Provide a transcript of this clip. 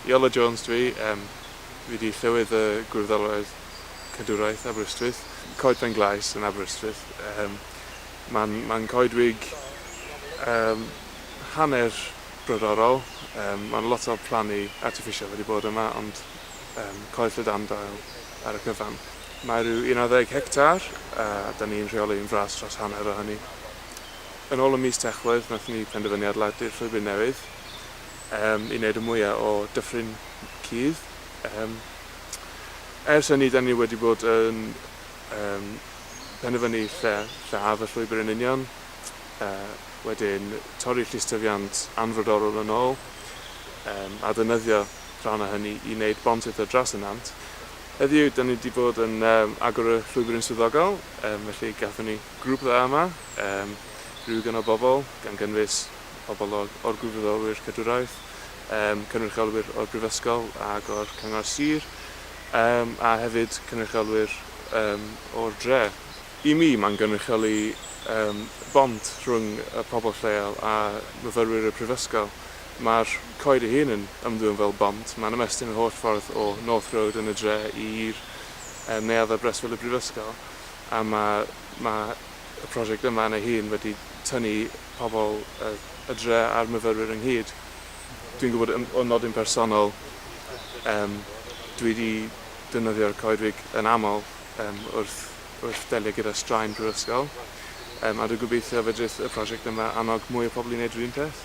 Iolo Jones dw i, yym, fi 'di Llywydd y Gwyrddalwraeth Cadwraeth Aberystwyth, Coed Pen Glais yn Aberystwyth, yym, ma'n ma'n coedwig yym hanner brodorol, yym, ma'n lot o plannu artiffisial wedi bod yma ond yym coed llydan dail ar y cyfan. Mae rhyw un ar ddeg hectar a 'da ni'n rheoli yn fras dros hanner o hynny. Yn ôl ym mis Tachwedd nathon ni penderfynu adeiladu'r llwybr newydd, i wneud y mwya o Dyffryn Cudd. Ers hynny, da ni wedi bod yn penderfynu lle lle haf y llwybr yn union, wedyn torri llystyfiant anfrodorol yn ôl, a ddefnyddio rhan o hynny i wneud bont eto dros y nant. Heddiw, da ni wedi bod yn agor y llwybr yn swyddogol, felly gafon ni grŵp dda yma, rhyw ganol bobl, gan gynnwys pobl o'r Gwirfoddolwyr Cadwraeth, cynrychiolwyr o'r Brifysgol ac o'r Cyngor Sir, a hefyd cynrychiolwyr o'r dre. I mi, mae'n gynrychioli bont rhwng y pobl lleol a myfyrwyr y Prifysgol. Mae'r coed ei hun yn ymddwyn fel bont, mae'n ymestyn yr holl ffordd o North Road yn y dre i'r neuadd ar breswyl y Brifysgol, a mae y prosiect yma yn ei hun wedi tynnu pobl y dre a'r myfyrwyr ynghyd. Dwi'n gwybod o nodyn personol, yym, dwi 'di defnyddio'r coedwig yn aml yym wrth wrth delio gyda straen prifysgol, yym, a dwi'n gobeithio fedrith y prosiect yma annog mwy o pobl i wneud yr un peth.